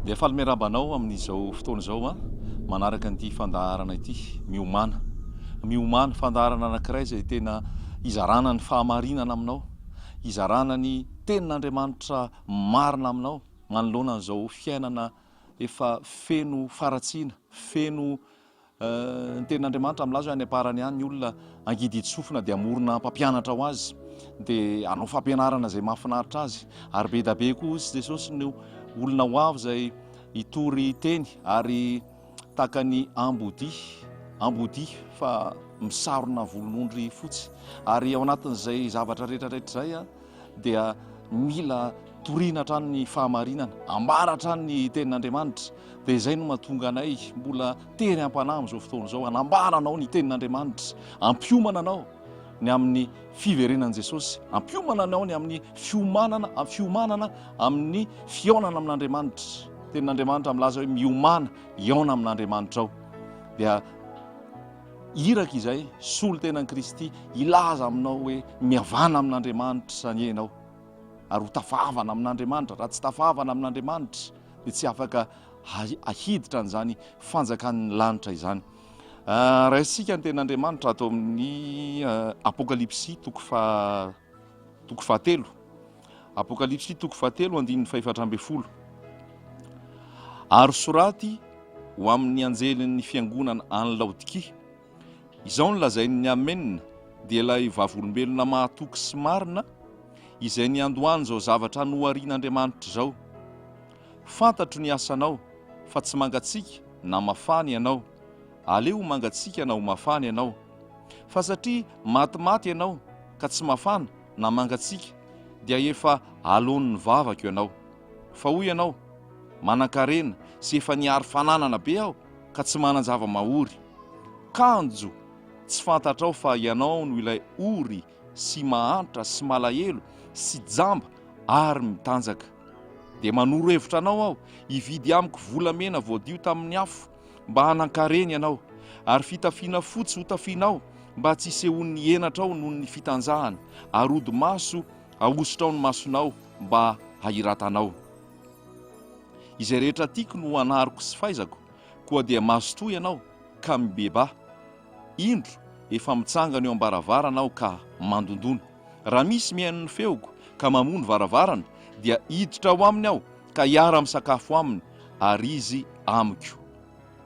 Dia faly miarahaba anao amin'izao fotoana izao an, manaraka an'ity fandaharana ity, miomana. Miomana, fandaharana anankiray izay tena hizarana ny fahamarinana aminao, hizarana ny tenin'Andriamanitra marina aminao manoloana an'izao fiainana efa feno faratsiana, feno Ny tenin'Andriamanitra milaza hoe any am-parany any ny olona hangidy hitsi-sofina dia hamorona mpampianatra ho azy dia hanao fampianarana izay mahafinaritra azy ary be dia be koa hozy Jesosy no olona ho avy izay hitory teny ary tahaka ny ambody ambody fa misarona volon'ondry fotsy ary ao anatin'izay zavatra rehetra rehetra izay dia mila torina hatrany ny fahamarinana, ambara hatrany ny tenin'Andriamanitra. Dia izay no mahatonga anay mbola tery am-panahy amin'izao fotoana izao, hanambara anao ny tenin'Andriamanitra, hampiomana anao ny amin'ny fiverenan'i Jesosy, hampiomana anao ny amin'ny fiomanana, fiomanana amin'ny fihaonana amin'Andriamanitra. Tenin'Andriamanitra milaza hoe miomana, hihaona amin'Andriamanitra ao. Dia Iraka izay, solon-tenan'i Kristy, hilaza aminao hoe, Mihavana amin'Andriamanitra izany ianao, ary ho tafavana amin'Andriamanitra. Raha tsy tafavana amin'Andriamanitra, dia tsy afaka hahiditra an'izany fanjakan'ny lanitra izany. Raisintsika ny tenin'Andriamanitra ato amin'ny Apokalypsy, toko faha. Toko fahatelo, Apokalypsy toko fahatelo andininy fahefatra ambin'ny folo Ary soraty ho amin' ny anjelin' ny fiangonan' any Laodikia, Izao no lazain' ny Amena, dia ilay Vavolombelona mahatoky sy marina, izay niandohany izao zavatra noharin' Andriamanitra izao, Fantatro ny asanao, fa tsy mangatsiaka na mafana ianao, aleo ho mangatsiaka na ho mafana ianao. Fa satria matimaty ianao ka tsy mafana na mangatsiaka dia efa aloan'ny vavako ianao. Fa hoy ianao, Manankarena sy efa nihary fananana be aho ka tsy manan-java-mahory. Kanjo tsy fantatrao fa ianao no ilay ory sy mahantra sy malahelo sy jamba ary mitanjaka. Dia manoro hevitra anao aho hividy amiko volamena voadio tamin'ny afo mba hanan-kareny ianao, ary fitafiana fotsy hotafianao mba tsy hisehoan'ny henatrao noho ny fitanjahana, ary hodi-maso ahosotra ao ny masonao mba hahiratanao. Izay rehetra tiako no anariko sy faizako, koa dia mazotoa ianao ka mibebaha. Indro, efa mitsangana eo am-baravarana aho ka mandondona. Raha misy mihaino ny feoko ka mamoha ny varavarana, dia hiditra ao aminy aho ka hiara-misakafo aminy, ary izy amiko.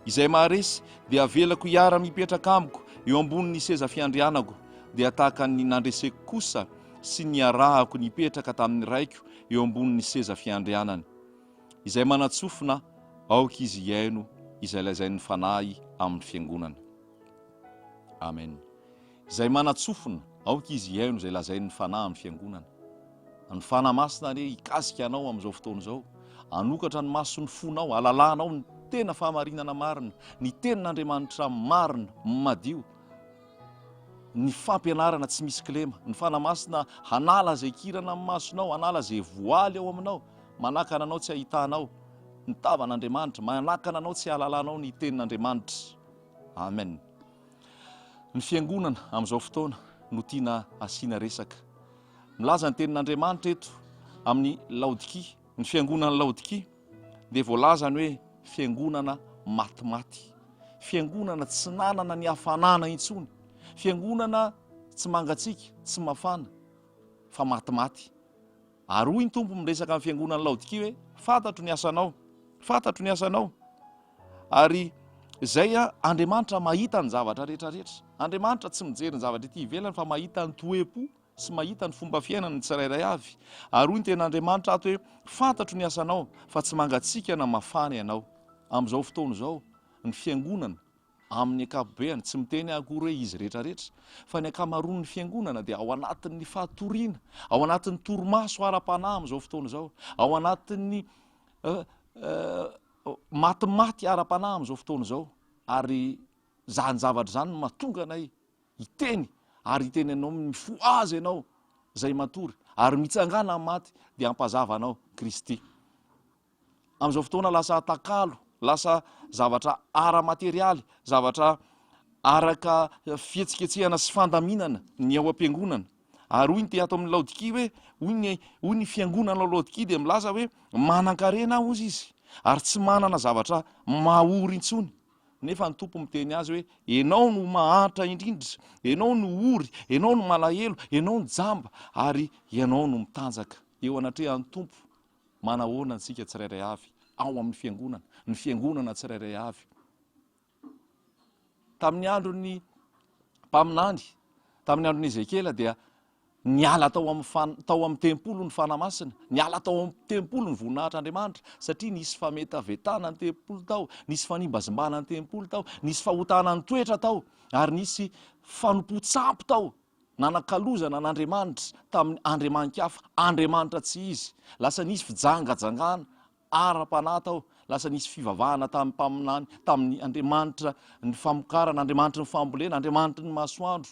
Izay maharesy dia avelako hiara-mipetraka amiko eo ambonin'ny seza fiandrianako, dia tahaka ny nandreseko kosa sy niarahako nipetraka tamin'ny Raiko eo ambonin'ny seza fiandrianany. Izay manan-tsofina, aoka izy hihaino izay lazain'ny Fanahy amin'ny Fiangonana. Amen. Izay manan-tsofina, aoka izy hihaino izay lazain'ny Fanahy amin'ny Fiangonana. Ny Fanahy Masina anie hikasika anao amin'izao fotoana izao, hanokatra ny mason'ny fonao, hahalalanao ny tena fahamarinana marina, ny Tenin'Andriamanitra marina, madio, ny fampianarana tsy misy kilema. Ny Fanahy Masina hanala izay kirana amin'ny masonao, hanala izay voaly ao aminao, manakana anao tsy hahitanao ny tavan'Andriamanitra, manakana anao tsy hahalalanao ny Tenin'Andriamanitra. Amen. Ny fiangonana amin'izao fotoana no tiana asiana resaka. Milaza ny tenin'Andriamanitra eto amin'ny Laodikia. Ny fiangonan'i Laodikia dia voalazany hoe fiangonana matimaty, fiangonana tsy nanana ny hafanana intsony, fiangonana tsy mangatsiaka, tsy mafana, fa matimaty. Ary hoy ny Tompo miresaka amin'ny fiangonan'i Laodikia hoe, Fantatro ny asanao, fantatro ny asanao, ary izay an, Andriamanitra mahita ny zavatra rehetrarehetra. Andriamanitra tsy mijery ny zavatra ety ivelany fa mahita ny toe-po sy mahita ny fomba fiainana ny tsirairay avy. Ary hoy ny tena Andriamanitra ato hoe, Fantatro ny asanao, fa tsy mangatsiaka na mafana ianao. Amin'izao fotoana izao, ny fiangonana Amin'ny ankapobeany, tsy miteny akory izy rehetrarehetra, fa ny ankamaroan'ny Fiangonana dia ao anatin'ny fatoriana, ao anatin'ny torimaso ara-panahy amin'izao fotoana izao, ao anatin'ny matimaty ara-panahy amin'izao fotoana izao, ary izany zavatra izany no mahatonga anay hiteny, ary hiteny anao amin'ny mifohaza ianao izay matory, ary mitsangana amin'ny maty, dia hampazava anao Kristy. amin'izao fotoana lasa atakalo, lasa zavatra ara-materialy, zavatra araka fihetsiketsehana sy fandaminana ny ao am-piangonana. Ary hoy ny te ato amin'ny Laodikia hoe, hoy ny, hoy ny fiangonana ao Laodikia dia milaza hoe, Manan-karena aho, hozy izy, ary tsy manana zavatra mahory intsony. Nefa ny Tompo miteny azy hoe, Ianao no mahantra indrindra, ianao no ory, ianao no malahelo, ianao no jamba, ary ianao no mitanjaka eo anatrehan'ny Tompo. Manahoana antsika tsirairay avy ao amin'ny Fiangonana, ny Fiangonana tsirairay avy? Tamin'ny andron'ny mpaminany, tamin'ny andron'i Ezekiela dia niala tao amin'ny fan- tao amin'ny tempoly ny fanahy masina, niala tao amin'ny tempoly ny voninahitr'Andriamanitra, satria nisy fametavetana ny tempoly tao, nisy fanimbazimbana ny tempoly tao, nisy fahotana ny toetra tao, ary nisy fanompoan-tsampy tao Nanakalozana an'Andriamanitra tamin'ny andriamani-kafa, andriamanitra tsy izy. Lasa nisy fijangajangana ara-panahy tao, lasa nisy fivavahana tamin'ny mpaminany, tamin'ny andriamanitra ny famokarana, andriamanitry ny fambolena, andriamanitry ny masoandro,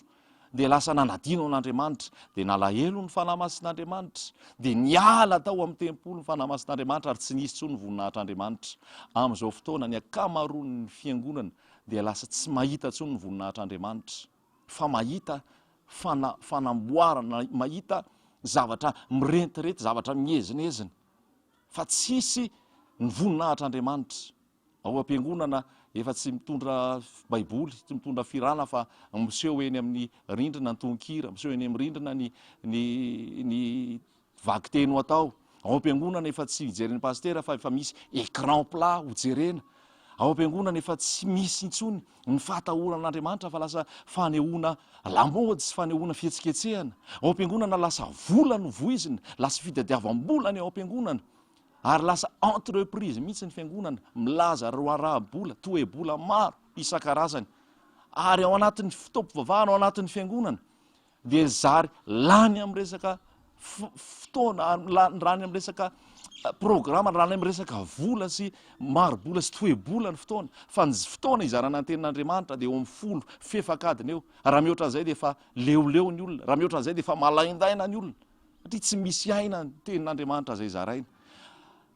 dia lasa nanadino an'Andriamanitra. Dia nalahelo ny Fanahy Masin'Andriamanitra, dia niala tao amin'ny tempoly ny Fanahy Masin'Andriamanitra, ary tsy nisy intsony ny voninahitr'Andriamanitra. Amin'izao fotoana, ny ankamaroan'ny fiangonana dia lasa tsy mahita intsony ny voninahitr'Andriamanitra. fa mahita fana, fanamboarana, mahita zavatra mirentirety, zavatra miezinezina, fa tsisy ny voninahitr'Andriamanitra. Ao am-piangonana efa tsy mitondra baiboly, tsy mitondra firana fa miseho eny amin'ny rindrina ny tononkira, miseho eny amin'ny rindrina ny ny ny Vakiteny ho atao. Ao am-piangonana efa tsy hijeren'ny pasitera fa efa misy écran plat hojerena. Ao am-piangonana efa tsy misy intsony ny fahatahorana an'Andriamanitra fa lasa fanehoana lamaody sy fanehoana fihetsiketsehana. Ao am-piangonana lasa vola no voizina, lasa fitadiavam-bola ny ao am-piangonana ary lasa entreprise mihitsy ny fiangonana milaza raharaha-bola, toe-bola maro isan-karazany. Ary ao anatin'ny fotoam-pivavahana ao anatin'ny fiangonana dia zary lany amin'ny resaka fotoana ary lany amin'ny resaka programa, lany amin'ny resaka vola sy maribola sy toe-bola ny fotoana, fa ny fotoana izarana ny tenin'Andriamanitra dia eo amin'ny folo fefak'adina eo, raha mihoatra an'izay dia efa leoleo ny olona, raha mihoatra an'izay dia efa malaindaina ny olona, satria tsy misy aina ny tenin'Andriamanitra izay zaraina,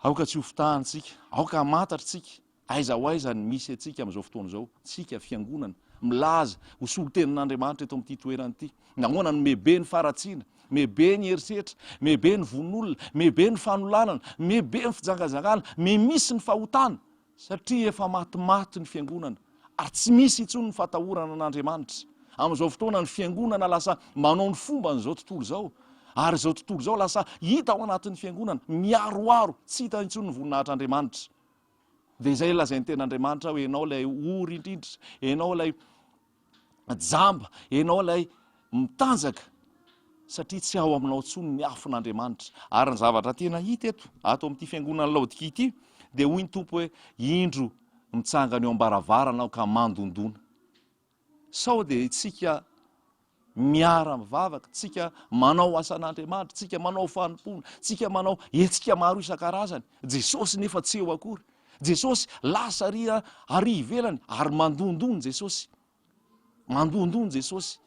aoka tsy hofitahantsika, aoka hamantatra tsika Aiza ho aiza ny misy antsika amin'izao fotoana izao, isika Fiangonana, milaza ho solontenin'Andriamanitra eto amin'ity toerana ity? Nahoana no mebe ny faharatsiana, mebe ny herisetra, mebe ny vono-olona, mebe ny fanolanana, mebe ny fijangajangana, me misy ny fahotana? Satria efa matimaty ny Fiangonana, ary tsy misy intsony ny fatahorana an'Andriamanitra. Amin'izao fotoana ny Fiangonana lasa manao ny fomban'izao tontolo izao, ary izao tontolo izao lasa hita ao anatin'ny Fiangonana, miaroaro, tsy hita intsony ny voninahitr'Andriamanitra. Dia izay ilazain'ny tena Andriamanitra hoe ianao ilay ory indrindra, ianao ilay jamba, ianao ilay mitanjaka satria tsy ao aminao intsony ny afon'Andriamanitra. Ary ny zavatra tena hita eto, ato amin'ity fiangonan'i Laodikia ity, dia hoy ny Tompo hoe, indro mitsangana eo am-baravarana aho ka mandondona. Sao dia tsika miara mivavaka, tsika manao asan'Andriamanitra, tsika manao fanompoana, tsika manao hetsika maro isan-karazany, Jesosy nefa tsy eo akory. Jesosy lasa ary ary ivelany ary mandondoa ny Jesosy. Mandondoa ny Jesosy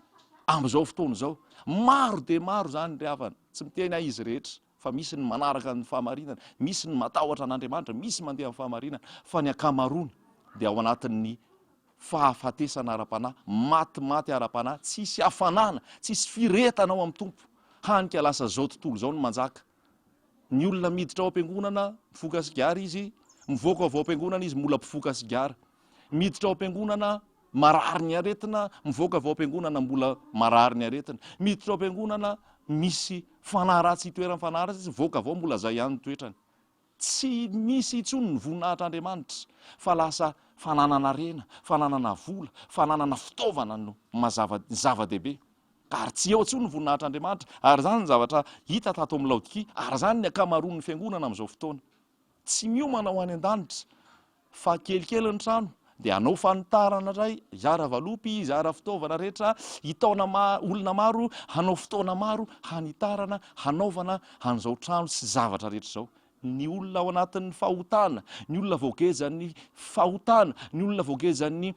amin'izao fotoana izao. Maro dia maro izany ry havana, tsy miteny ahy izy rehetra. fa misy ny manaraka ny fahamarinana, misy ny matahotra an'Andriamanitra, misy mandeha amin'ny fahamarinana, fa ny ankamaroany dia ao anatin'ny fahafatesana ara-panahy, maty maty ara-panahy, tsisy hafanana, tsisy firetana ao amin'ny Tompo, hany ka lasa izao tontolo izao no manjaka. Ny olona miditra ao am-piangonana, mifoka sigara izy, mivoaka avy ao am-piangonana izy, mbola mpifoka sigara. Miditra ao am-piangonana, Marary ny aretina, mivoaka avy ao am-piangonana mbola marary ny aretina. Miditra ao am-piangonana misy fanahy ratsy itoeran'ny fanahy ratsy izy, mivoaka avy ao mbola izay ihany ny toetrany. Tsy misy intsony ny voninahitr'Andriamanitra fa lasa fananana harena, fananana vola, fananana fitaovana no mazava, ny zava-dehibe. Ka ary tsy eo intsony ny voninahitr'Andriamanitra. Ary izany ny zavatra hita tato amin'i Laodikia, ary izany ny ankamaroan'ny fiangonana amin'izao fotoana. Tsy miomana ho any an-danitra fa kelikely ny trano dia hanao fanitarana indray, hizara valopy, hizara fitaovana rehetra, hitaona olona maro, hanao fotoana maro hanitarana, hanaovana an'izao trano sy zavatra rehetra izao. Ny olona ao anatin'ny fahotana, ny olona voagejan'ny fahotana, ny olona voagejan'ny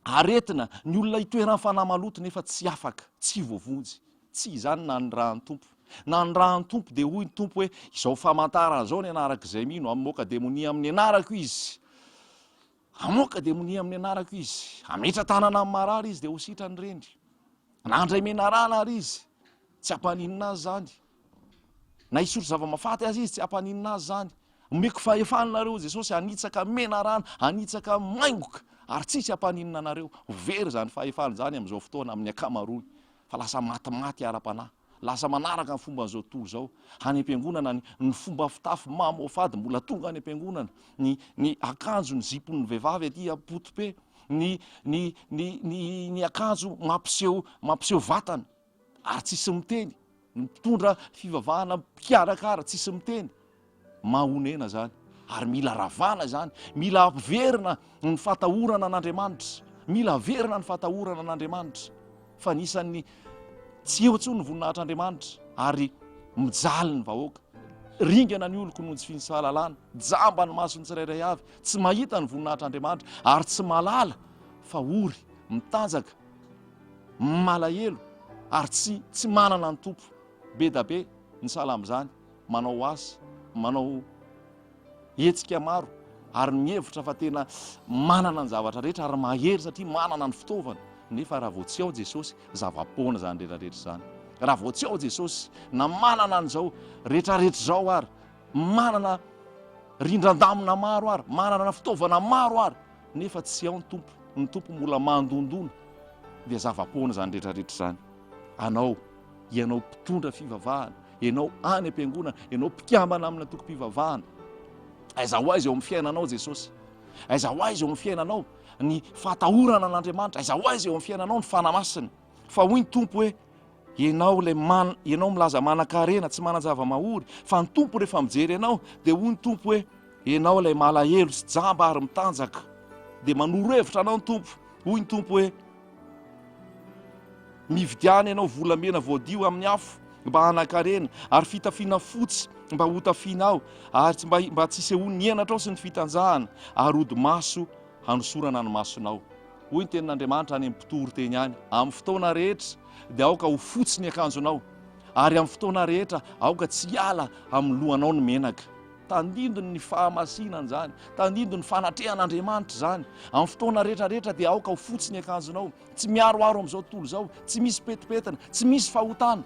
Aretina, ny olona itoeran'ny fanahy maloto nefa tsy afaka, tsy voavonjy. Tsy izany nanirahan'ny Tompo. Nanirahan'ny Tompo dia hoy ny Tompo hoe, izao famantarana izao ny anarak'izay mino, hamoaka demonia amin'ny anarako izy. Hamoaka demonia amin'ny anarako izy. Hametra-tanana amin'ny marary izy dia ho sitrany ireny. Nandray menarana ary izy. Tsy ampaninona azy izany. Na hisotro zava-mafaty aza izy, tsy hampaninona azy izany. Omeko fahefana nareo, Jesosy, hanitsaka menarana, hanitsaka maingoka, ary tsy hisy hampaninona anareo. Ho very izany fahefana izany amin'izao fotoana amin'ny ankamaroany, fa lasa matimaty ara-panahy, lasa manaraka ny fomban'izao tontolo izao. Any am-piangonana, ny, ny fomba fitafy mamoafady, mbola tonga any am-piangonana, ny, ny akanjo, ny zipon'ny vehivavy aty apotope, ny, ny, ny, ny, ny akanjo mampiseho, mampiseho vatana. ary tsisy miteny, ny mpitondra fivavahana mpikarakara tsisy miteny, mahonena zany ary mila ravana zany, mila averina ny fatahorana an'Andriamanitra, mila averina ny fatahorana an'Andriamanitra fa anisan'ny tsy eo intsony ny voninahitr'Andriamanitra ary mijaly ny vahoaka, ringana ny oloko noho ny tsy finsahalalana, jamba ny mason'ny tsirairay avy, tsy mahita ny voninahitr'Andriamanitra ary tsy mahalala fa ory mitanjaka, Malahelo ary tsy tsy manana ny Tompo. Bedabe ny sahala amin'izany manao asa, manao hetsika maro ary mihevitra fa tena manana ny zavatra rehetra ary mahery satria manana ny fitaovana nefa raha vao tsy ao Jesosy, zava-poana izany rehetra rehetra izany. Raha vao tsy ao Jesosy, na manana an'izao rehetra rehetra izao ary, manana rindran-damina maro ary, manana fitaovana maro ary, Nefa tsy ao ny Tompo, ny Tompo mbola mandondona, dia zava-poana izany rehetra rehetra izany. Anao, ianao mpitondra fivavahana, ianao any am-piangonana, ianao mpikambana amin'ny antokom-pivavahana, aiza ho aiza eo amin'ny fiainanao Jesosy? Aiza ho aiza eo amin'ny fiainanao ny fahatahorana an'Andriamanitra? Aiza ho aiza eo amin'ny fiainanao ny fanahy masina? Fa hoy ny Tompo hoe, Ianao ilay man ianao milaza manankarena tsy manan-javamahory fa ny Tompo rehefa mijery ianao dia hoy ny Tompo hoe ianao ilay malahelo sy jamba ary mitanjaka dia manoro hevitra anao ny Tompo hoy ny Tompo hoe mividiana ianao volamena voadio amin'ny afo mba hanankarena ary fitafiana fotsy mba hotafianao ary tsy mba mba tsy sehoan'ny henatrao sy ny fitanjahana ary ody maso hanosorana ny masonao Hoy ny tenin'Andriamanitra any amin'ny mpitory teny any, Amin'ny fotoana rehetra dia aoka ho fotsy ny akanjonao, ary amin'ny fotoana rehetra aoka tsy hiala amin'ny lohanao ny menaka. Tandindon' ny fahamasinan' izany, tandindon' ny fanatrehan' Andriamanitra izany. Amin'ny fotoana rehetrarehetra dia aoka ho fotsy ny akanjonao, tsy miharoharo amin'izao tontolo izao, tsy misy petipetina, tsy misy fahotana.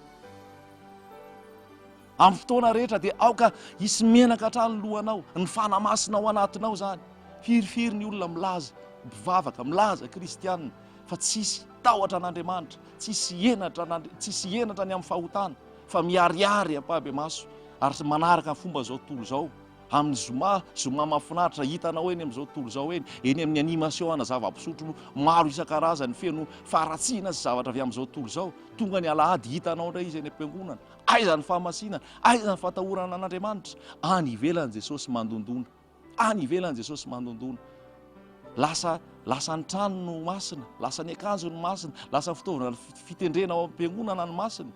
Amin'ny fotoana rehetra dia aoka hisy menaka hatrany ny lohanao, ny fanahy masina ao anatinao izany. Firifiry ny olona milaza mpivavaka, milaza kristiana fa tsisy tahotra an'Andriamanitra, tsisy henatra an'Andria-, tsisy henatra ny amin'ny fahotana fa miharihary ampahibemaso ary manaraka ny fomba izao tontolo izao. Amin'ny zoma, zoma mahafinaritra, hitanao eny amin'izao tontolo izao eny, eny amin'ny animation ana zava-pisotro maro isan-karazany feno faharatsiana sy zavatra avy amin'izao tontolo izao, tonga ny alahady hitanao indray izy eny am-piangonana, Aiza ny fahamasinana? Aiza ny fatahorana an'Andriamanitra? Any ivelany Jesosy mandondona. Any ivelany Jesosy mandondona. Lasa lasa ny trano no masina, lasa ny akanjo no masina, lasa ny fitaovana fitendrena ao am-piangonana no masina.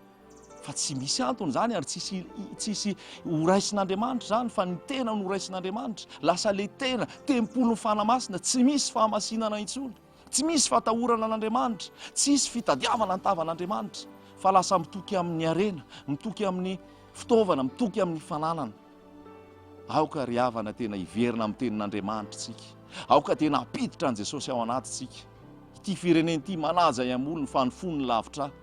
Fa tsy misy antony izany ary tsisy tsisy horaisin'Andriamanitra izany fa ny tena no horaisin'Andriamanitra. Lasa le tena, tempolin'ny fanamasina, tsy misy fahamasinana intsony. Tsy misy fatahorana an'Andriamanitra, tsy hisy fitadiavana ny tavan'Andriamanitra, fa lasa mitoky amin'ny harena, mitoky amin'ny fitaovana, mitoky amin'ny fananana. Aoka ry havana tena hiverina amin'ny tenin'Andriamanitra isika, aoka tena hampiditra an'i Jesosy ao anatintsika. Ity firenena ity manaja iham-olony fa ny fony lavitra ahy.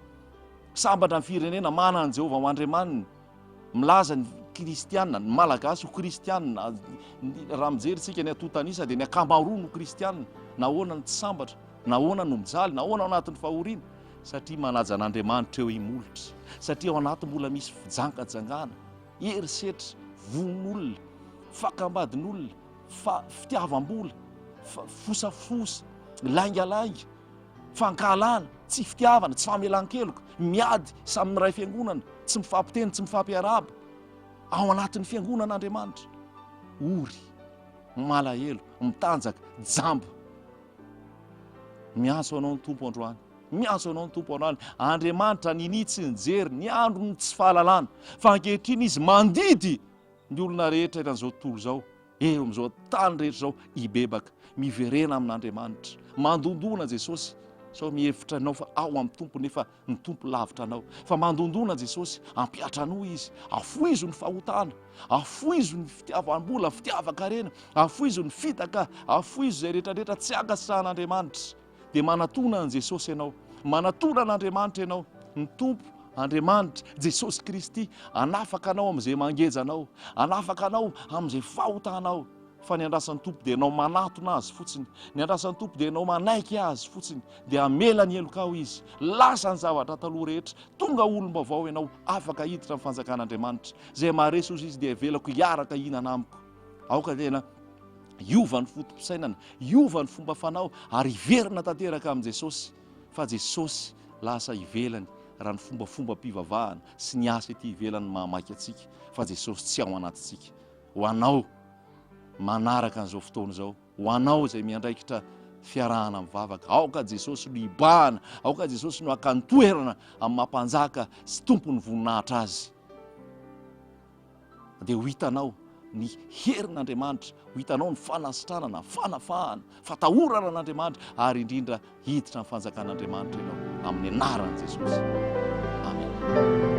Sambatra ny firenena manana an'i Jehovah ho Andriamaniny, Milaza ny kristiana, ny malagasy ho kristiana, raha mijery isika ny antontan'isa dia ny ankamaroany ho kristiana, nahoana no tsy sambatra, nahoana no mijaly, nahoana ao anatin'ny fahoriana, satria manaja an'Andriamanitra eo imolotra, satria ao anaty mbola misy fijangajangana, herisetra, vohon'olona, fakam-badin'olona, fa fitiavam-bola, fosafosa, laingalainga. fankahalana, tsy fitiavana, tsy famelan-keloka, miady samy miray fiangonana, tsy mifampiteny, tsy mifampiarahaba ao anatin'ny fiangonan'Andriamanitra, ory, malahelo, mitanjaka, jamba. Miantso anao ny Tompo androany, miantso anao ny Tompo androany. Andriamanitra ninia tsy nijery ny andron'ny tsy fahalalana, fa ankehitriny Izy mandidy ny olona rehetra eran'izao tontolo izao. Eo amin'izao tany rehetra izao hibebaka, miverena amin'Andriamanitra. Mandondona Jesosy, sao mihevitra ianao fa ao amin'ny Tompo nefa ny Tompo lavitra anao. Fa mandondona Jesosy, hampihatra anao Izy, hafoizo ny fahotana, hafoizo ny fitiavam-bola, fitiavan-karena, hafoizo ny fitaka, hafoizo izay rehetra rehetra tsy ankasitrahan'Andriamanitra. dia manatona an'i Jesosy ianao, manatona an'Andriamanitra ianao, ny Tompo Andriamanitra, Jesosy Kristy, hanafaka anao amin'izay mangeja anao, hanafaka anao amin'izay fahotanao, fa ny andrasan'ny Tompo dia ianao manatona Azy fotsiny, ny andrasan'ny Tompo dia ianao manaiky Azy fotsiny, dia hamela ny helokao Izy, lasa ny zavatra taloha rehetra, tonga olom-baovao ianao, afaka hiditra amin'ny fanjakan'Andriamanitra, izay maharesy hozy Izy dia avelako hiaraka hihinana amiko. Aoka tena hiova ny foto-pisainana, hiova ny fomba fanao ary hiverina tanteraka amin'i Jesosy fa Jesosy lasa ivelany raha ny fombafombam-pivavahana sy ny asa ety ivelany mahamaika antsika fa Jesosy tsy ao anatintsika. Ho anao manaraka an'izao fotoana izao, ho anao izay miandraikitra fiarahana mivavaka, aoka Jesosy no hibahana, aoka Jesosy no haka ny toerana amin'ny mampanjaka sy tompon'ny voninahitra azy. dia ho hitanao ny herin'Andriamanitra, ho hitanao ny fanasitranana, fanafahana, fatahorana an'Andriamanitra, ary indrindra hiditra ny fanjakan'Andriamanitra ianao amin'ny anaran'i Jesosy. Amen.